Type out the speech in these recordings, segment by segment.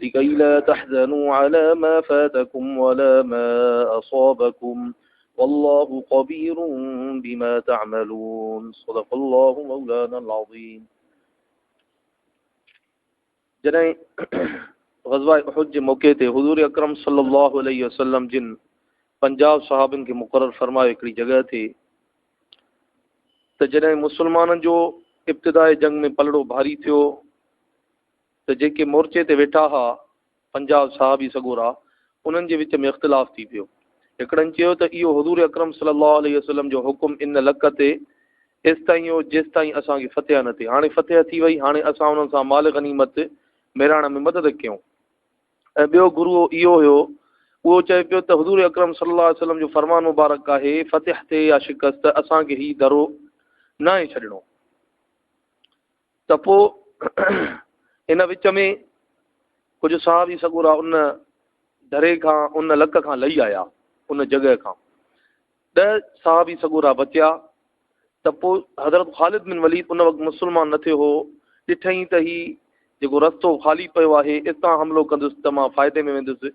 لڪي لا تحزنو علي ما فاتڪم ولا ما اصابڪم والله خبير بما تعملون صدق الله مولانا العظيم جڏهن غزوه احد جي موقعي تي حضور اڪرم صلي الله عليه وسلم جن 50 صحابن کي مقرر فرمايو هڪڙي جڳهه تي ته جڏهن مسلمانن جو ابتدائي جنگ ۾ پلڙو ڀاري ٿيو ته جيڪي مورچي تي ويٺا ها پنجاهه صحابي سڳورا انهن جي وچ ۾ اختلاف ٿي پيو هڪڙن چيو ته اهو حضور اڪرم صلي الله عليه وسلم جو حڪم ان لڪ تي ايستائين هو جيستائين اسان کي فتح نه ٿي هاڻي فتح ٿي وئي هاڻي اسان انهن سان مال غنيمت ميڙائڻ ۾ مدد ڪيون ۽ ٻيو گروه اهو هيو اهو چئي پيو ته حضور اڪرم صلي الله عليه وسلم جو فرمان مبارڪ آهي فتح ٿئي يا شڪست اسان کي هي درو ناهي ڇڏڻو ته پوء ان وچ ۾ ڪجهه صحابي سڳورا ان دري کان، ان لڪ کان لهي آيا، ان جڳهه کان ڏهه صحابي سڳورا بچيا ته پوء حضرت خالد بن وليد ان وقت مسلمان نه ٿيو هو، ڏٺئي ته هي جيڪو رستو خالي پيو آهي، اتان حملو ڪندس ته مان فائدي ۾ ويندس.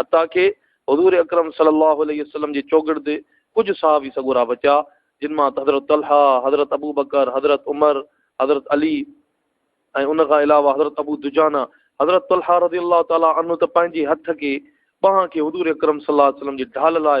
حتيٰ ڪي حضور اڪرم صلي الله عليه وسلم جي چوگرد ڪجهه صحابي سڳورا بچيا، جن مان حضرت طلحه، حضرت ابوبڪر، حضرت عمر، حضرت علي ۽ ان کان علاوه حضرت ابو دجانه، حضرت طلحه رضي الله تعالٰي عنه ته پنهنجي هٿ کي، ٻانهن کي، حضور اڪرم صلي الله عليه وسلم جي ڍال لاء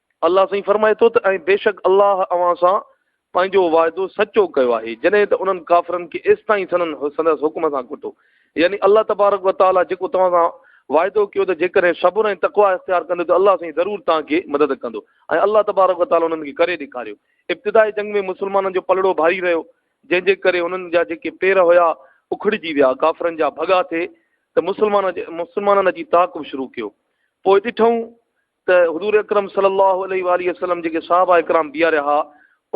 الله سائين فرمائي ٿو ته ۽ بيشڪ الله اوهان سان پنهنجو واعدو سچو ڪيو آهي جڏهن ته انهن ڪافرن کي ايستائين سندن سندس حڪم سان ڪٽو يعني الله تبارڪ و تعالٰي جيڪو توهان سان واعدو ڪيو ته جيڪڏهن صبر ۽ تقوا اختيار ڪندو ته الله سائين ضرور توهان کي مدد ڪندو ۽ الله تبارڪ و تعالٰي انهن کي ڪري ڏيکاريو ابتدائي جنگ ۾ مسلمانن جو پلڙو ڀاري رهيو جنهن جي ڪري انهن جا جيڪي پير هيا اکڙجي ويا ڪافرن جا ڀڳا ٿي ته مسلمان مسلمانن جي تعاقب شروع ڪيو پوء ڏٺائون ته حضور اڪرم صلي الله عليه واٰله وسلم جيڪي صحابه ڪرام بيهاريا ها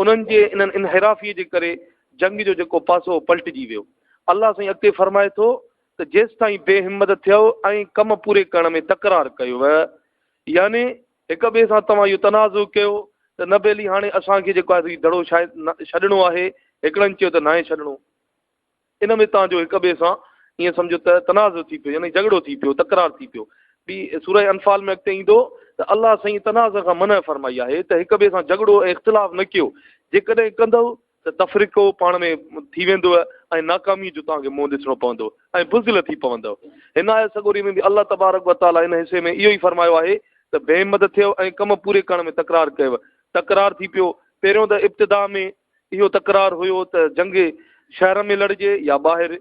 انهن جي انهن انحرافي جي ڪري جنگ جو جيڪو پاسو هو پلٽجي ويو الله سائين اڳتي فرمائي ٿو ته جيستائين بي همت ٿيو ۽ ڪم پوري ڪرڻ ۾ تڪرار ڪيو يعني هڪ ٻئي سان توهان اهو تنازع ڪيو ته نه بيلي هاڻي اسان کي جيڪو آهي دڙو شايد ڇڏڻو آهي هڪڙن چيو ته ناهي ڇڏڻو ان ۾ توهان جو هڪ ٻئي سان ائين سمجهو ته تنازع ٿي پيو يعني جهڳڙو ٿي پيو، تڪرار ٿي پيو. ٻي سوره انفال ۾ اڳتي ايندو ته الله سائين تنازع کان منع فرمائي آهي ته هڪ ٻئي سان جهڳڙو ۽ اختلاف نه ڪيو، جيڪڏهن ڪندؤ ته تفرقو پاڻ ۾ ٿي ويندؤ ۽ ناڪامي جو توهان کي منهن ڏسڻو پوندو ۽ بزدل ٿي پوندؤ. هن آيت سڳوري ۾ به الله تبارڪ و تعاليٰ ان حصي ۾ اهو ئي فرمايو آهي ته بي همت ٿيو ۽ ڪم پوري ڪرڻ ۾ تڪرار ڪيو، تڪرار ٿي پيو، پهريون ته ابتدا ۾ اهو تڪرار هيو ته جنگ شهر ۾ لڙجي يا ٻاهر،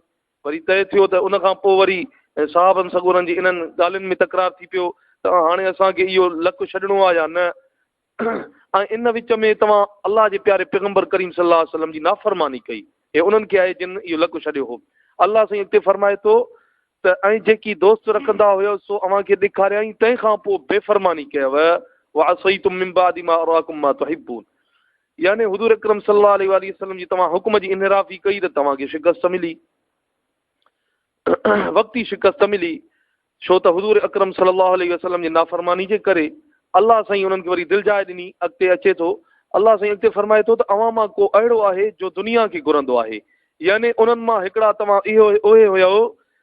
وري طئي ٿيو ته ان کان پوء وري صحابن سڳورن جي انهن ڳالهين ۾ تڪرار ٿي پيو ته هاڻي اسان کي اهو لڪ ڇڏڻو آهي يا نه ۽ ان وچ ۾ توهان الله جي پياري پيغمبر ڪريم صلي الله عليه وسلم جي نافرماني ڪئي هي انهن کي آهي جن اهو لڪ ڇڏيو هو الله سائين اڳتي فرمائي ٿو ته ۽ جيڪي دوست رکندا هيو سو اوهان کي ڏيکاريائين تنهن کان پوء بي فرماني ڪيو وعصيتم من بعد ما اراكم ما تحبون يعني حضور اڪرم صلي الله عليه واٰله وسلم جي توهان حڪم جي انحرافي ڪئي ته توهان کي شڪست ملي. وقتي شڪست ملي. ڇو ته حضور اڪرم صلي الله عليه وسلم جي نافرماني جي ڪري الله سائين انهن کي وري دلجاء ڏني. اڳتي اچي ٿو الله سائين اڳتي فرمائي ٿو ته اوهان مان ڪو اهڙو آهي جو دنيا کي گهرندو آهي يعني انهن مان هڪڙا توهان اهي هيؤ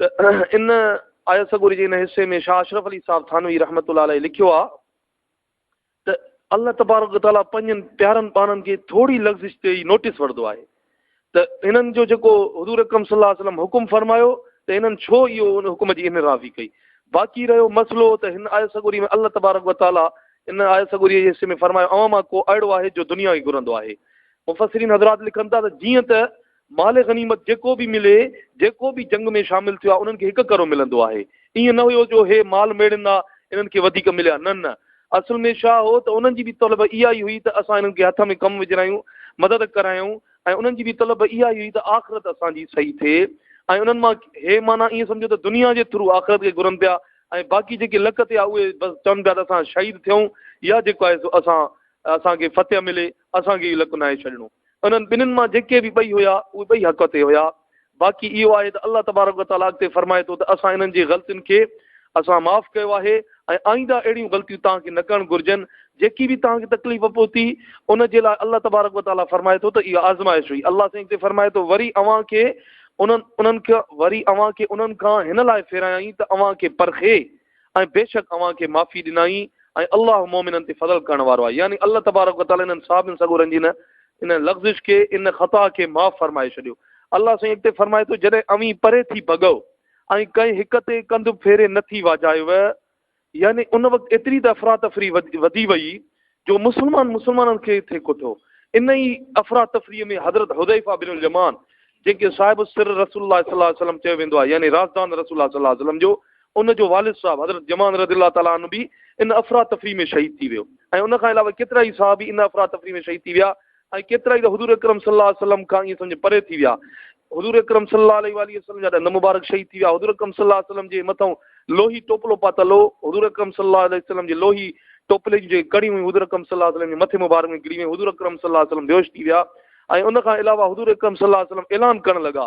ته ان آيت سڳوري جي ان حصي ۾ شاهه اشرف علي صاحب ٿانوي رحمة الله عليه لکيو آهي ته الله تبارڪ و تعاليٰ پنهنجن پيارن پاڻن جي ٿوري لغزش تي ئي نوٽيس وٺدو آهي ته انهن جو جيڪو حضور اڪرم صلي الله عليه وسلم حڪم فرمايو ته انهن ڇو اهو ان حڪم جي اهن راضي ڪئي باقي رهيو مسئلو ته هن آيت سڳوري ۾ الله تبارڪ و تعاليٰ ان آيت سڳوري جي حصي ۾ فرمايو اوهان مان ڪو اهڙو آهي جو دنيا ئي گهرندو آهي مفسرين حضرات لکن ٿا ته جيئن ته مال غنيمت جيڪو به ملي، جيڪو به جنگ ۾ شامل ٿيو آهي، انهن کي هڪ ڪرو ملندو آهي. ائين نه هيو جو هي مال ميڙين آ، انهن کي وڌيڪ مليا، نه نه. اصل ۾ ڇا هو ته انهن جي به طلب اها ئي هئي ته اسان انهن کي هٿ ۾ ڪم وجهرايون، مدد ڪرايون ۽ انهن جي به طلب اها ئي هئي ته آخرت اسان جي صحيح ٿئي ۽ انهن مان هي معنيٰ ائين سمجهو ته دنيا جي ٿرو آخرت کي گهرن پيا ۽ باقي جيڪي لڪ تي آ اهي بس چون پيا ته اسان شهيد ٿيون يا جيڪو آهي سو اسان اسان کي فتح ملي. اسان کي اهو لڪ ناهي ڇڏڻو. انهن ٻنهين مان جيڪي به ٻئي هيا، اهي ٻئي حق تي هيا. باقي اهو آهي ته الله تبارڪ و تعاليٰ اڳتي فرمائي ٿو ته اسان انهن جي غلطين کي اسان معاف ڪيو آهي ۽ آئنده اهڙيون غلطيون توهان کي نه ڪرڻ گهرجن. جيڪي به توهان کي تڪليف پهتي، ان جي لاء الله تبارڪ و تعاليٰ فرمائي ٿو ته اها آزمائش هئي. الله سائين اڳتي فرمائي ٿو، وري اوهان کي انهن، انهن کي، وري اوهان کي انهن کان هن لاء ڦيرايائين ته اوهان کي پرکي. ۽ بيشڪ اوهان کي معافي ڏنائين ۽ الله مؤمنن تي فضل ڪرڻ وارو آهي يعني الله تبارڪ وتعالي انهن صحابين سڳورن جي ان ان لغزش کي ان خطا کي معاف فرمائي ڇڏيو الله سائين اڳتي فرمائي ٿو جڏهن اوهين پري ٿي ڀڳئو ۽ ڪنهن هڪ تي ڪنڌ ڦيري نه ٿي واجهايو يعني ان وقت ايتري ته افراتفري وڌي وئي جو مسلمان مسلمانن کي ٿي ڪوٺو. ان ئي افراتفريء ۾ حضرت حذيفه بن اليمان جنهن کي صاحب السر رسول الله صلي الله عليه وسلم چيو ويندو آهي يعني رازدان رسول الله صلي الله عليه وسلم جو ان جو والد صاحب حضرت جمان رضي الله تعالٰي عنه به ان افراتفري ۾ شهيد ٿي ويو ۽ ان کان علاوه ڪيترائي صحابي ان افراتفري ۾ شهيد ٿي ويا ۽ ڪيترائي ته حضور اڪرم صلي الله عليه وسلم کان ائين سمجهه پري ٿي ويا حضور اڪرم صلي الله عليه والھ وسلم جا ڏند مبارڪ شھيد ٿي ويا حضور اڪرم صلي الله عليه وسلم جي مٿئون لوھي ٽوپلو پاتل ھو حضور اڪرم صلي الله عليه وسلم جي لوھي ٽوپلي جون جيڪي ڪڙيون ھيون حضور اڪرم صلي الله عليه وسلم جي مٿي مبارڪ ۾ ڪري ويون حضور اڪرم صلي الله عليه وسلم بيھوش ٿي ويا ۽ ان کان علاوه حضور اڪرم صلي الله عليه وسلم اعلان ڪرڻ لڳا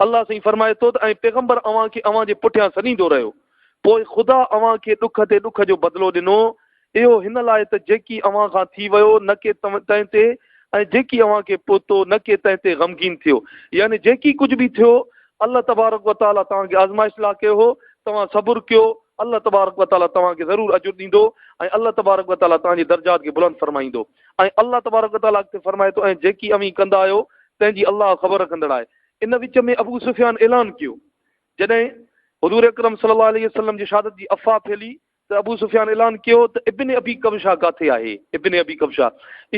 الله سائين فرمائي ٿو ته ۽ پيغمبر اوهان کي اوهان جي پٺيان سڏيندو رهيو، پوء خدا اوهان کي ڏک تي ڏک جو بدلو ڏنو، اهو هن لاء ته جيڪي اوهان کان ٿي ويو نه ڪي تنهن تي ۽ جيڪي اوهان کي پهتو نه ڪي تنهن تي غمگين ٿيو، يعني جيڪي ڪجهه به ٿيو الله تبارڪ و تعاليٰ توهان کي آزمائش لاء ڪيو هو، توهان صبر ڪيو، الله تبارڪ و تعاليٰ توهان کي ضرور اجر ڏيندو ۽ الله تبارڪ و تعاليٰ توهان جي درجات کي بلند فرمائيندو. ۽ الله تبارڪ و تعاليٰ اڳتي فرمائي ٿو، ۽ جيڪي اوهين ڪندا آهيو تنهن جي الله خبر رکندڙ آهي. ان وچ ۾ ابو سفيان اعلان ڪيو. جڏهن حضور اڪرم صلي الله عليه وسلم جي شهادت جي افواهه ڦهلي ته ابو سفيان اعلان ڪيو ته ابن ابي ڪبشه ڪاٿي آهي؟ ابن ابي ڪبشه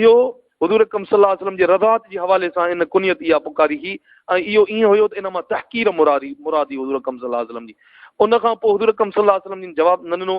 اهو حضور اڪرم صلي الله عليه وسلم جي رضاعت جي حوالي سان ان ڪنيت اها پڪاري هئي ۽ اهو ائين هيو ته ان مان تحقير مراد هئي حضور اڪرم صلي الله عليه وسلم جي. ان کان پوء حضور اڪرم صلي الله عليه وسلم جن جواب نه ڏنو.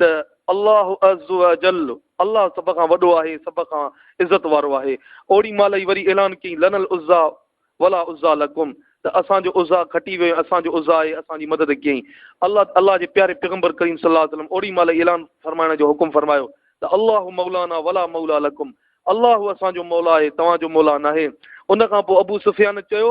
ته الله عزّوجلّ، الله سڀ کان وڏو آهي، سڀ کان عزت وارو آهي. اوڙي مهل ئي وري اعلان ڪيائين، لنا العزّيٰ ولا عزّيٰ لڪم، ته اسان جو عزّيٰ کٽي ويو ۽ اسان جو عزّيٰ آهي، اسان جي مدد ڪيائين. الله، الله جي پياري پيغمبر ڪريم صلّي الله عليه وسلّم اوڙي مهل ئي اعلان فرمائڻ جو حڪم فرمايو ته الله مولانا ولا موليٰ لڪم، الله اسان جو مولا آهي، توهان جو مولا ناهي. ان کان پوء ابو سفيان چيو